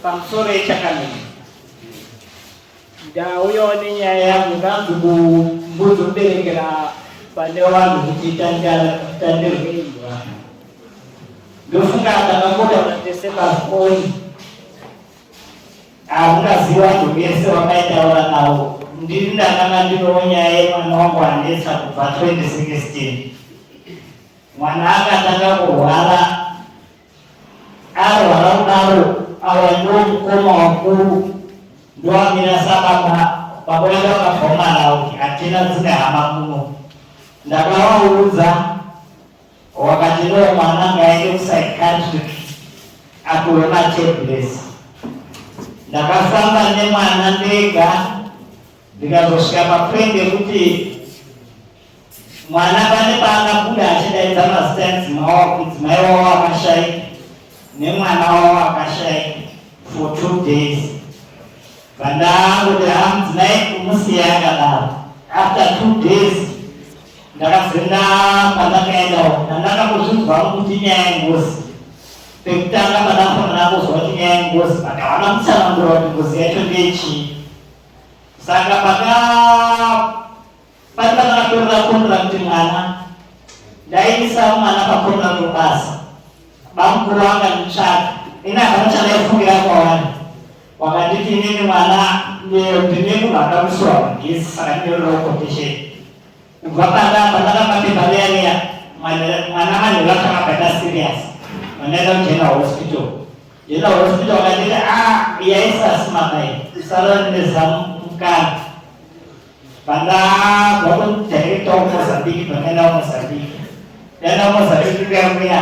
pamusoro yechakamira ndauyawo nenyaya yangu ndanzi mbuzoberekera pane vanhu kuti tandirwe imba ndofunga ndakakotaura tese pafoni Hamukazivi vanhu vese vakaitaura navo ndiri ndakanga ndinowo nyaya yemwana wangu anetsa kubva 2016 mwana akatanga kurwara arwara kudaro awa ndo mukoma wakuru ndoamira sababa vakuenda vakabvomana kuti hatina dzine hama kuno ndakavaudza Wakati ndiwe mwana ngaende kupsychiatric apiwe matablets. Ndakafamba nemwana ndega ndikazosvika papoint yekuti mwana pane paakabuda achidaidza mazita emudzimai wavo akashaika nemwana wavo akashaika for two days vandakuti hamudzimai kumusiya akadaro after two days Ndakazinda pandakaenda ndandaka kuzvinzwa kuti nyaya yengozi pekutanga pandafanira kuzwa kuti nyaya yengozi but havana kutsanangura kuti ngozi yacho ndeyechii saka paka pati pandakatorera kondirakti mwana ndaiisa mwana pakondirakti basa bamukuru vanga nditsvaka ini havana chandaifungira kwawana wakanditi inini mwana ndine munhu akamusiwa mugezi saka ndine rokotesheni Kubva panga pandakapa pepa riya riya mwana manheru akanga akaita serious vandaenda kugeneral hospital general hospital vakanditi a ah, yaisasimakai usarora nezamu mukana pandabva kudirecta kumozambiki pandaenda kumozambiki ndaenda kumozambiki kuya kuya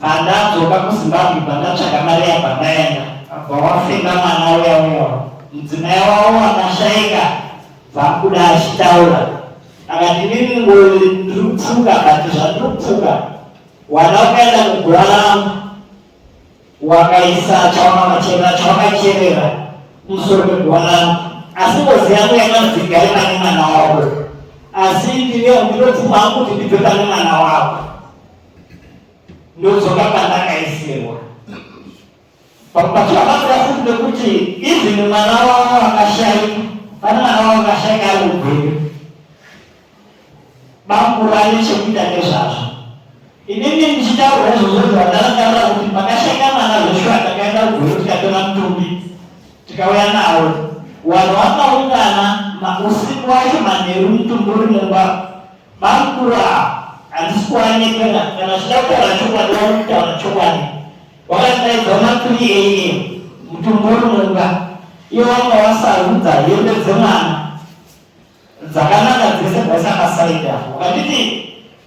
Pandadzoka kuZimbabwe pandatsvaga mari yabva ndaenda abva wafenda mwana uya uya mudzimai wavo wakashaika bvakuda achitaura akati inini ngori ndiri kupfuka kati zvandiri kupfuka wana ukaenda kugura rangu wakaisa chawakamachera chawakacherera kumusoro kwegura rangu asi ngozi yangu yamadzika iri pane mwana wako asi ndiriyo ndinopfuma hangu kuti ndibve pane mwana wako ndodzoka pandakaisewa pakubatsira basa yafuti nekuti even mwana wavo akashaika pane mwana wavo akashaika ari mubheri bamkuru ane chekuita nezvazvo inini ndichitaura izvozvo zvandakatarira kuti pakashaika mwana zveshuwa takaenda kubheri tikatora mutumbi tikauya nawo vanhu vakaungana usiku wacho manheru mutumbi uri mumba Makura handisi kuanekana kana zvichida kutaura chokwadi waunokutaura chokwadi wakadaidza makuri eiye mutumburi mumba iye wanga wasarudza hembe dzemwana dzakanaka dzese bwasakasaida wakanditi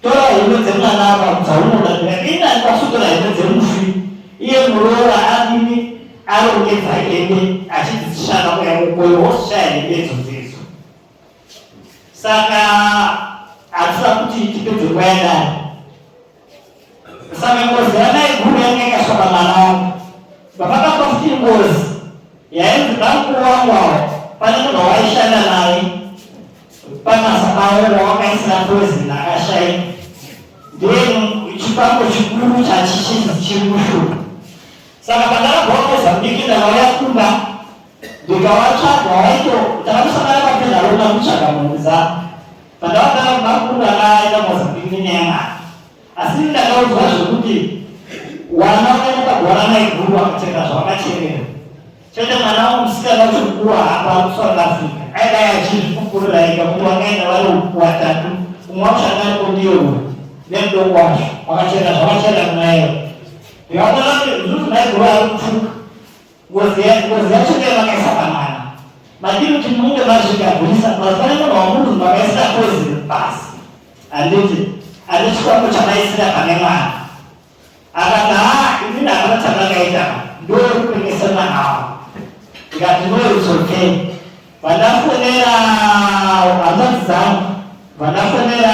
tora hembe dzemwana apa dzaunoda ndikadini andikasutora hembe dzemufi iye muroora adini arongedza hembe achidzishana kuya kukoyo woshaya hembe idzodzei saka hatisa kuti tipedze nguva yadaro saka ngozi yanaiguru yanga ikasvaka mwana wangu bapakapa futi ngozi yainzi bamukuru wangu awo pane munhu wawaishanda naye pamasa pavo wawakaisira poison akashaika then chipango chikuru chachichizi chiri mushuka saka pandakabva kuza mudiki ndakauya kumba ndikavatsvaga waito ndakamusangana papedha rona kutsvaga mhuri dzavo pandavagara kumakuru akaenda mozambique nenyaya yamari asi ini ndakaudzwa zvekuti wana ukaendakagora maiguru akatenga zvavakacherera chete mwana wangu musikana kuti mukuru hapa kusouth africa aidai achizvikukurira ika kuti wakaenda vari watatu umwe wacho angariko ndiyo nemudoko wacho wakachera zvakachera kunayo yavakanati zvinhu maiguru ari kutuka Ngozi yacho ndiyo vakaisa pamwana. Madii kuti munge mazvigadzirisa mazivana munhu wamunhu makaisira kozi pasi. Handiti handiti chikwambo chamaisira pane mwana. Akati haa ini ndakana chandakaita ndokupengesa mwana wavo. Ndikati no it's okay. Vandafonera hanzvadzi dzangu vandafonera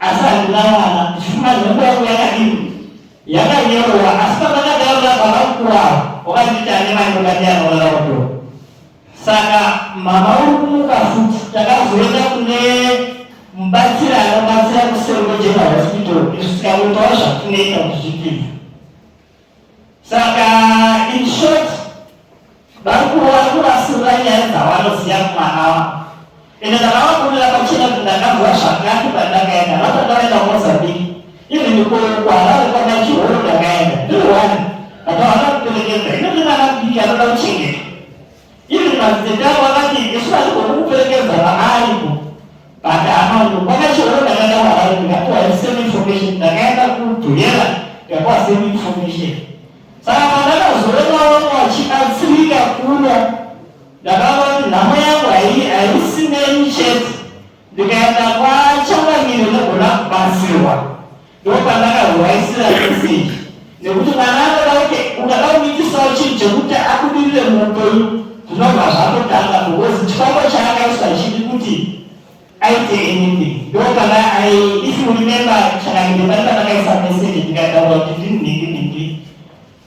asi handina mwana ndichifuma nhombo yangu yakadini yakanyorova asi pavakadaro vabva vakukurawo wakanditi ane mai mukati anorara kudo saka mama uri kumuka futi takazoenda kune mubatsiri anobatsira kuseri kwegeneral hospital isu tikamutaura zvatinoita kuzvipinza saka in short vari kuona kuvasirira nyaya dzavanoziva kumwana wavo ende ndakavakurira pachena kuti ndakanzwa zvakati pandakaenda vata ndakaenda kumozambiki even kuharare kwamachihoro ndakaenda ndiri one vata vana kuperekedza ino ndinana kudiki anoda kuchengeta Even madzitete avo vakati isu hatigoni kuperekedza vana ariko but amano kwakachiona ndakaenda kuharare ndikapiwa the same information ndakaenda kudhuyera ndikapiwa same information saka pandakazoona vamwe vachibatsirika kuno ndakaona kuti nhamo yangu haisi neni chete ndikaenda kwachangamire ndogona kubatsirwa ndopandakahuraisira meseji nekuti mwana akadaike ukada kumikisawo chinhu chekuti abudirire muupenyu zvinobva zvatotanga because chifambo chaakaisa chidi kuti aite anything ndopanda ai if you remember chakandibata ndakaisa meseji ndikataura kuti ndinhingi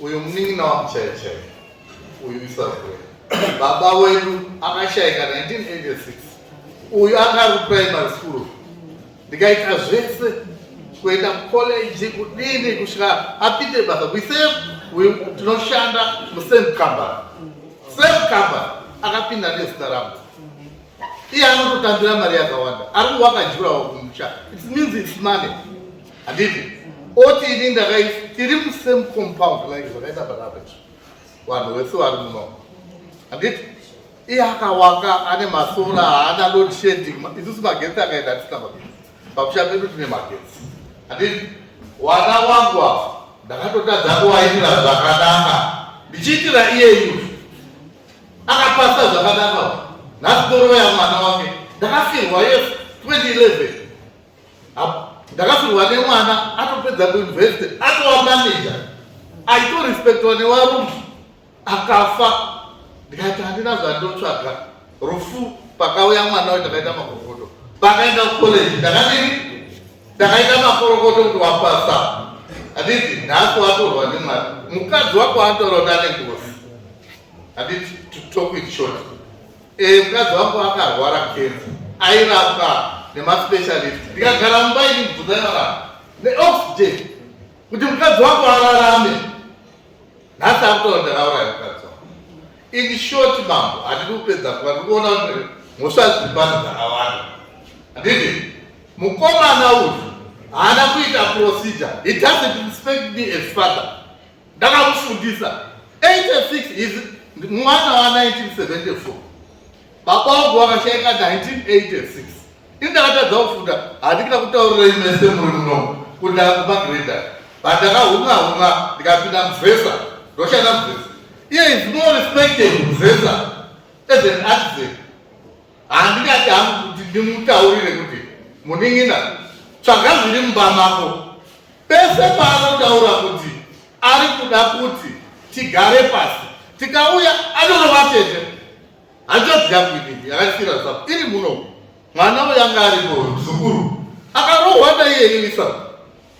Uyu munin'ina wangu chaiye chaiye uyu isazwe baba wedu akashaika 1986 uyu anga ari kuprimary school ndikaita zvese kuenda kucollege kudini kusvika apinde basa kuise uyu tinoshanda musame company same company akapinda nezita rangu iye anototambira mari yakawanda ari kuwakajurawo kumusha it means its money handiti oti ini ndakai tiri musame compound like zvakaita barabe vanhu vese vari muno handiti iye akawaka ane masora haana load shading isusu magetsi akaenda atisina magetsi pakusha pedu tine magetsi handiti wana wangu apa ndakatotadza kuwaitira zvakanaka ndichiitira iyeyu akapasa zvakanaka nhasi torova yamwana wake ndakafirwa yesu 2011 ndakafirwa nemwana atopedza kuinvesti atova manager aitorespectwa nevarume akafa ndikati handina zvandotsvaga rufu pakauya mwana we ndakaita makorokoto pakaenda kucollege ndakadii ndakaita makorokoto kuti wapasa handiti nhasi watorwa nemwari mukadzi wako anotaura kuti ane ngozi handiti to talk with short Eh, mukadzi wangu akarwara kenzi airapwa nemaspecialist ndikagara mumba ini mubvunza inorapa neoxygen kuti mukadzi wangu ararame nhasi akutoona ndakauraya mukadzi wangu in short mambo handidi kupedza kuva ndikuona kuti mhosva dziri pano dzakawanda handiti mukomana uyu haana kuita procedure he doesn't respect me as father ndakamufundisa 86 is mwana wa 1974 baba wangu wakashaika 1986 ini ndakatadza kufunda handikita kutaurira imese muri muno kuti akumagreda but ndakahunga hunga ndikapinda muvhesa ndoshanda muvhesa iye is more respected muvhesa as an artisan Handingati hangu kuti ndimutaurire kuti munin'ina tsvaga zviri mumba mako. Pese paanotaura kuti ari kuda kuti tigare pasi tikauya anorova tete. Hanzvadzi yangu inini yakasira zvapo iri muno mwana uyo anga aripo muzukuru akarohwa naiye ini saka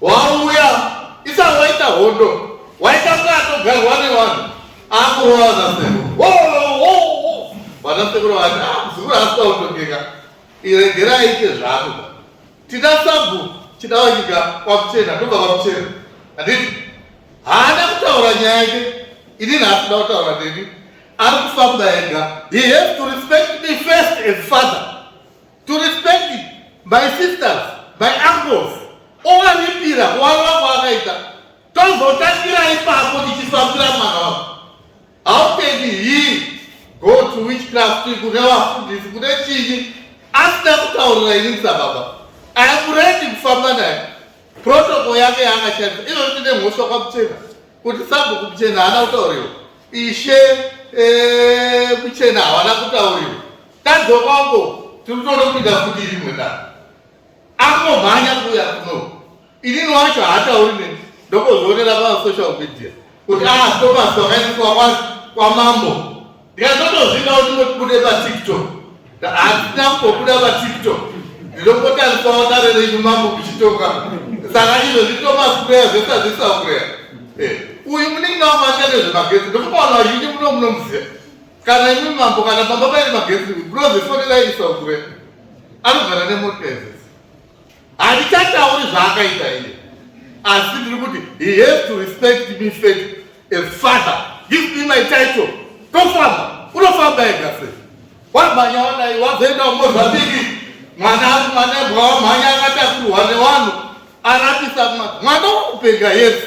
Wauya isa waita hondo waita bwato garwa nevanhu akurova vanasekuru vanasekuru vati muzukuru ah, asina kutongeka iregerai ite zvako tina sabhu chidawa nyika kwakuchena ndobva kwakuchena handiti haana kutaura nyaya yake ini naasida kutaura neni ari kufamba ega he has to respect me first as father to respect my sisters my uncles ovaripira wavo vako vakaita tozotangira ipapo tichifambira mwana wako hautendi hii go to which craft kune vafundisi kune chinyi asina kutaurira ini musababa akuredi kufamba naye protoko yake yaakashandisa inoti nemhosva kwamuchena kuti sabho kumuchena haana kutauriwa ishe eh, muchena havana kutauriwa Tadzokapo tiri kutoda kupinda futi rimwe da akomhanya kuuya kuno inini wacho haatauri neni ndokuzvionera pasocial media kuti astopas ah, kwakaitwa kwamambo ndikazotozvida kuti ndotibude patiktok hatina kumbobuda patiktok ndinokotariswawo dare renyu mambo kuchitoka saka izvo zvitomasikureya zvese hazvisakureya eh, uyu muningi nawo maita nezvemagetsi ndokubaona vazhinji muno munomuziva kana imi mambo kana baba vaine magetsi because foni vairisa ukure anogara nemota izis handichatauri zvaakaita iye asi ndiri kuti he has to respect me fat a father give me my title tofamba unofamba ega se wamhanya wadai wazoenda umozvabiki mwana mwana bwawamhanya akatakurwa newanhu arapisa mwana wakupenga yesu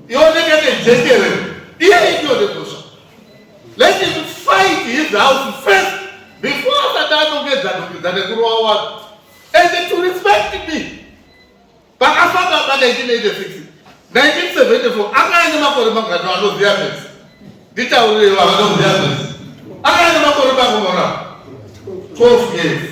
Ioneke nejekere iye idio negosha. Let him fight his house first before asati anongedza nongedza nekurowa wani. And to respect me. Pakafamba pa 1986. 1974 anga ane makore mangani anoziva mese. Nditaurirewo vanoziva mese. Anga ane makore mangani. 12 years.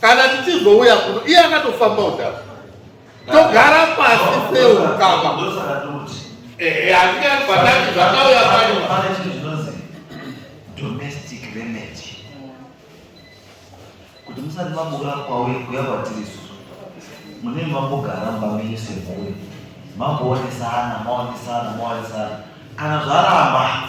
kana tichizouya kuno iye akatofamba udhara togara pasi seukama handingabatani zvakauya pano kuti musati mabuda kwauye kuya kwatiri susu mune mambogara mbamenyu semhuri mamboonesana maonesana maonesana kana zvaramba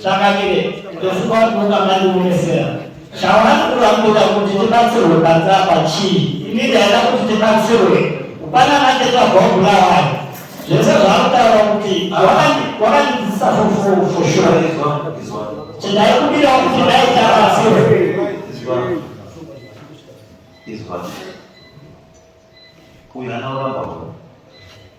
Tsvangamire, ndofunga kuti ungamandionesera chawanakura kuda kuti tibatsirwe panze apa chii? Ini ndaida kuti tibatsirwe kupana mateta bhobhula waya zvese zvaakutaura kuti wakandidzidzisa foshura chindaikudira kuti ndaita batsirwe izwa uyu anauramba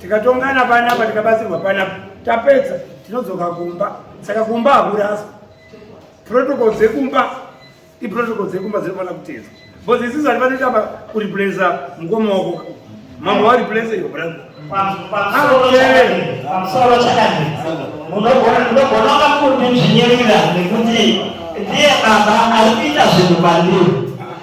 tikatongana panapa tikabatsirwa panapa tapedza tinodzoka kumba saka kumba hakuraswa protocol dzekumba iprotocol dzekumba dzinofanira kutedzwa bcause isisu hati vanoita kureplace mukoma wako mambo vareplace your brother pamusoro chakadii munogona kakuti zvinyerera nekuti ndiye baba ari kuita zvinhu pandiri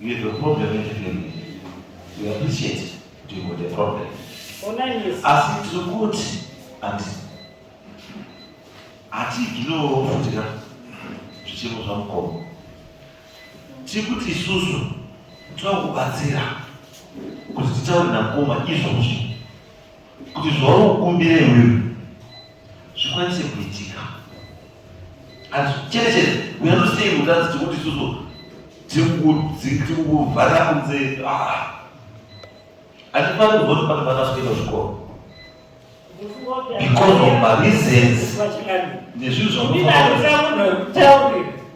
You have a problem with him. We appreciate you got a problem. Asi tiri kuti ati hatiiginowo futika zvichemo zvamukoma. Tiri kuti isusu tinokubatsira kuti titaure namukoma izvozvi kuti zvauri kukumbira iwewe zvikwanise kuitika hazvicherechedze uyanosei mutadzi tikuti isusu tikuvharira kunze hatifaniri kuvoti pane vana zvikuita zvikoro because of mareasons nezvinhu zvamunoaa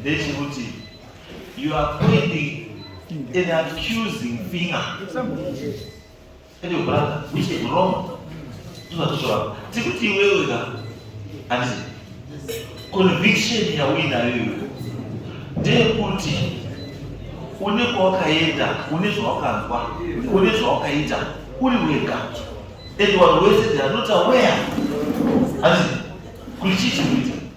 ndechekuti you are pointing an accusing finger and your brother which is wrong tozvatosvava tikuti iwewe ka hanzi conviction yauinayo iwe ndeyekuti une kwawakaenda une zvawakanzwa une zvawakaita uri wega and vanhu wese they are not aware hanzi kuti chii chikuita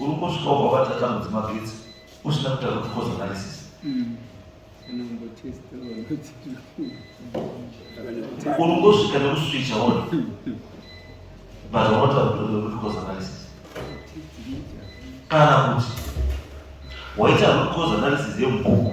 uri kusvika ubva vatata mudzimagetsi usina kutaura kuti cause analysis uri kusvika nekuswicha wona but unotaura kuti cause analysis kana kuti waita root cause analysis yemubhuku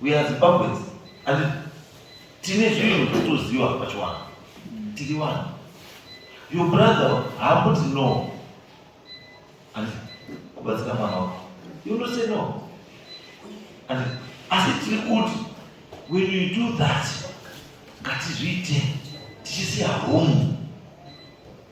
We are Zimbabweans and tine zvinhu zvatoziva pachiwanhu tiri vanhu your brother haamboti no and kubatsira mwana wako you don't say no and asi tiri kuti when you do that ngatizviite tichisiya home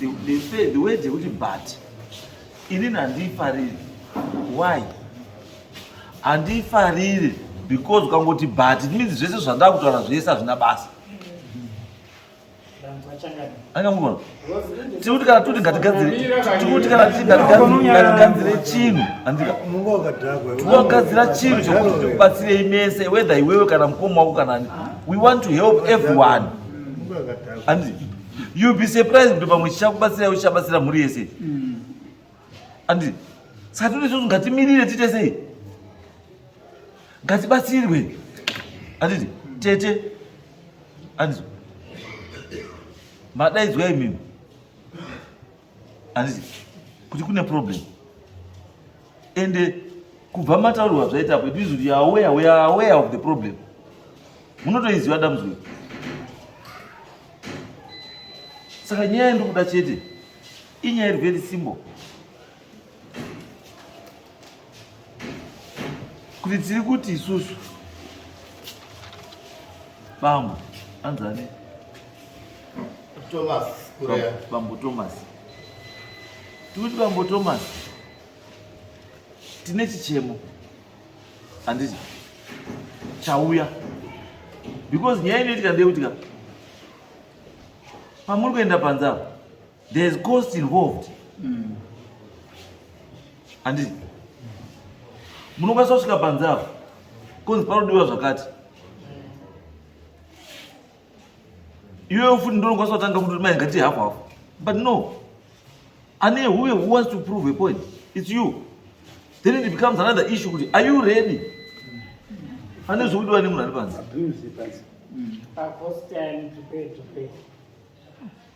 the, the, the, the way dzekuti but inini handiifariri why handiifariri because ukangoti but it means zvese zvandakutaura zvese hazvina basa angamugona tikuti kana tuti ngatigadzire tikuti kana tuti ngatigadzire chinhu andika tinogadzira chinhu chokuti tikubatsirei mese whether iwewe kana mukoma wako kana ani we want to help everyone and you be surprised kuti pamwe chichakubatsira uchabatsira mhuri yese Andi saka tiri isusu ngatimirire tiite sei? Ngatibatsirwe. Anditi tete anditi madaidzwa imimi anditi kuti kune problem ende kubva mataurirwa zvaita apo it means kuti aware we are aware of the problem munotoiziva dambudziko saka nyaya ndikuda chete Inyaya iri very simple. Kuti tiri kuti isusu bambo anzani Thomas Kurea. Bambo Thomas. Tikuti bambo Thomas tine chichemo handiti chauya because nyaya inoitika ndeyekutika pamuri kuenda panzava There's cost involved. Mm. Andi munokwanisa kusvika panze apo konzi panodiwa zvakati iwewe futi ndonokwanisa kutanga kuti mai ngati hafu hafu but no ane huye who wants to prove a point it's you then it becomes another issue kuti are you ready ane zvekudiwa nemunhu ari panze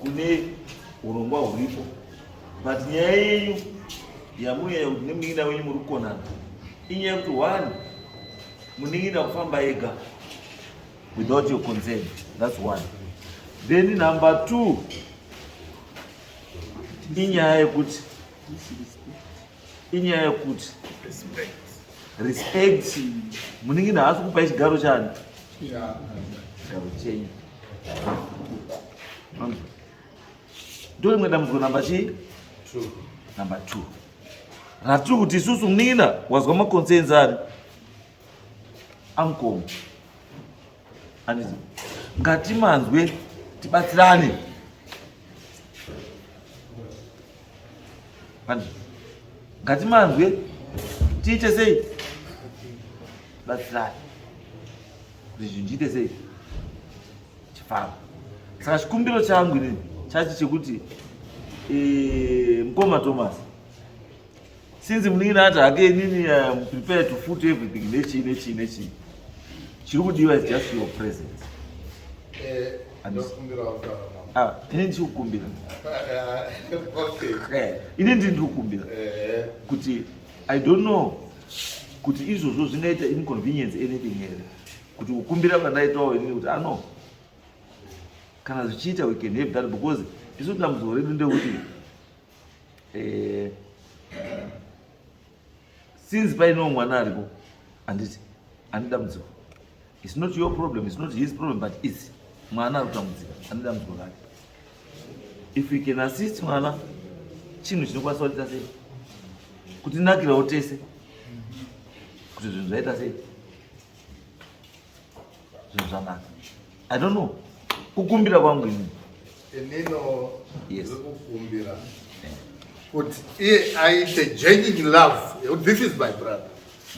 kune urongwa huripo but nyaya yenyu yamunyanya kuti nemunin'ina wenyu muri kukonana inyaya yekuti one munin'ina kufamba ega without your consent that's one then number two inyaya yekuti inyaya yekuti respect munenge naasi kupa chigaro chani chigaro chenyu ndorimwe dambudziko namba chii namba two ratiri kuti isusu muningina wazwa maconsense ari amkomo Anditi ngatimanzwe tibatsirane. Anditi ngatimanzwe tiite sei? Batsirane. Kuti zvinhu zviite sei? Chifamba. Saka chikumbiro changu ini chachi chekuti eh, mkoma Thomas since munin'ina ati hake inini am um, prepared to foot everything nechii nechii nechii chiri kudiwa is just your presence eh, ah, ini ndichikukumbira eh, ini ndiri ndikukumbira eh. kuti i don't know kuti izvozvo zvingaita inconvenience anything here kuti kukumbira kwandaitawo ini kuti ano ah, kana zvichiita we can have that because isu dambudziko redu ndekuti eh, since paino mwana aripo handiti ane dambudziko its not your problem its not his problem but its mwana ari kutambudzika ane dambudziko rake if you can assist mwana chinhu chinokwanisa kuita sei kutinakirawo tese kuti zvinhu zvaita sei zvinhu zvanaka i don't know kukumbira kwangu ini inino yes. kukumbira eh. kuti iye aite genuine love this is my brother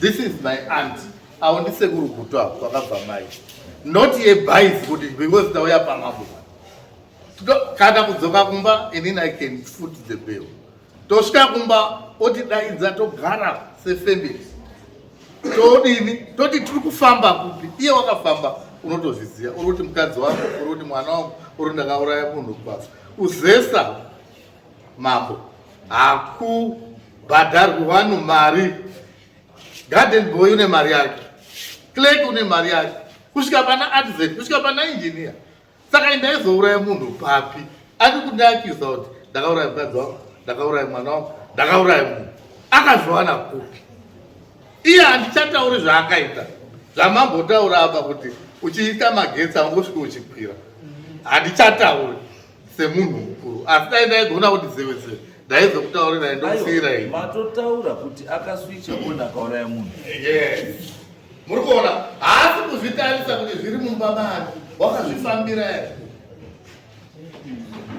this is my aunt awo ndisekuru gutu apo kwakabva mai not yebhaizi kuti because tauya pamambo kana kudzoka kumba inini i can foot the bill tosvika kumba otidaidza togara sefamily todini toti tiri kufamba kupi iye wakafamba unotozviziva uri kuti mukadzi wako uri kuti mwana wangu uri ndakauraya munhu kubasa kuzesa mambo hakubhadharwi vanhu mari garden boy une mari yake clerk une mari yake kusvika pana artisan kusvika pana engineer saka ndaizouraya munhu papi ati kundiakiza kuti ndakauraya mukadzi wangu ndakauraya mwana wangu ndakauraya munhu akazviwana kupi iye handichatauri zvaakaita zvamambotaura apa kuti uchiita magetsi angosvika uchikwira handichatauri semunhu mukuru asi dai ndaigona kuti zevese ndaizokutaurirai ndokusiirai matotaura kuti akaswicha ona akauraya munhu muri kuona haasi kuzvitarisa kuti zviri mumba mani wakazvifambira here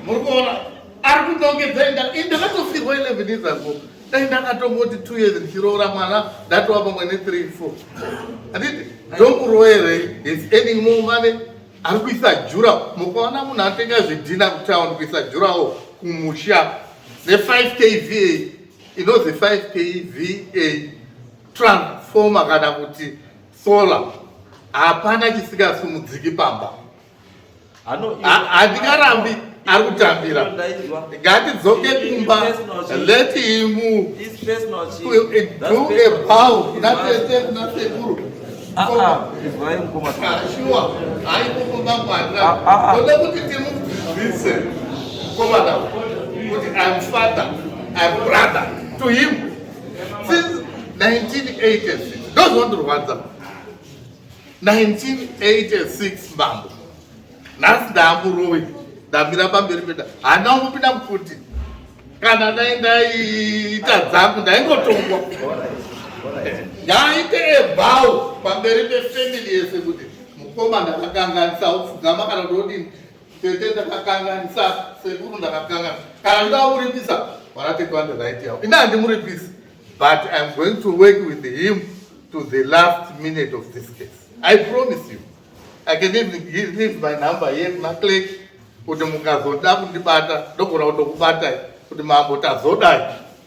muri kuona ari kunongedza inda ndakatofirwa 11 years ago dai ndakatongoti two years ndichiroora mwana ndatova pamwe nethree four anditi ndomuroere is earning more money ari kuisa jura mukaona munhu atenga zvidhina kutown kuisa jurawo kumusha ne 5 k va inozi 5 k va transformer kana kuti solar hapana chisingasumudziki pamba handingarambi ari kutambira ngatidzoke kumba let him do a bow kuna tete kuna sekuru shuwa aikokomba mwana oda kuti timudzidzise komana kuti im father im brother to him since 1986 ndozvandorwadza 1986 mambo nhasi ndaamurowe ndamira pamberi peda hana umupinda mukuti kana dai ndaiita dzangu ndaingotongwa ndaaite ebhawu pamberi pefamily yese kuti mukoma ndakakanganisa upfugama kana ndodini Tete ndakakanganisa sekuru ndakakanganisa. Kana ndoda kuripisa vana tete vane right yavo. Ini handimuripisi but I'm going to work with him to the last minute of this case. I promise you. I can even give, leave my number here kuna clerk kuti mukazoda kundibata ndogona kutokubatai kuti mambo tazodai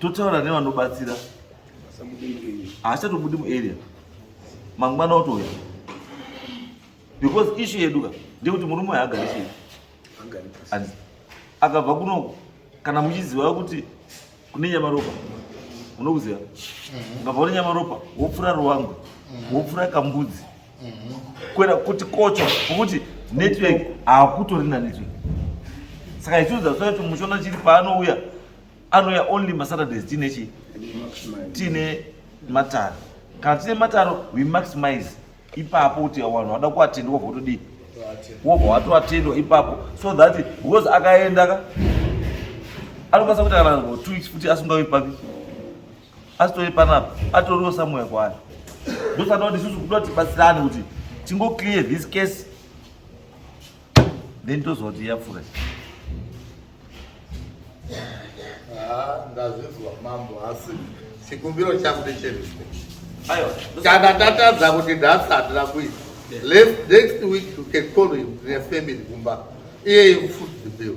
totaura nevanobatsira haachatobudi muarea mangwana otouya because ishu yedu ka ndekuti murume uyo agari chii akabva kunoko kana muchiziva kuti kune nyamaropa unokuziva mhm. ukabva kune nyamaropa wopfura ruwangu mhm. wopfura kambudzi kwera kuti kocho kuti network hakutori na network saka isu zasvaya kuti mushona chiri paanouya anouya only masaturdays tiine chii tiine mataro kana tiine mataro we maximize ipapo kuti vanhu vada kuatendwa votodii wobva watoatendwa ipapo so that because akaenda ka anokwanisa kuti kana two weeks futi asingavi papi asitori panapa atoriwo samuya kwaari ndosada kuti isusu kuda kuti batsirane kuti tingo clear this case then toziva kuti yapfura ndazvinzwa mambo asi chikumbiro changu ndecherespect kana tatadza kuti nhasi handina kuita next week you can call him nefamily kumba iye ifuti bill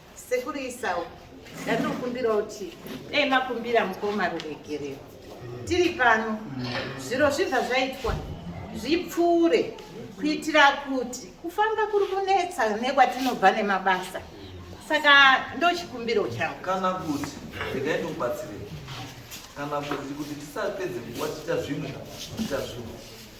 Sekuru Isau, ndatinokumbira kuti dai makumbira mukoma ruregerero. Tiri pano, zviro zvibva zvaitwa zvipfuure kuitira kuti kufamba kuri kunetsa nekwatinobva nemabasa. Saka ndochikumbiro changu. Kana kuti, regai ndokubatsirei. Kana kuti kuti tisapedze nguva tiita zvimwe, tiita zvimwe.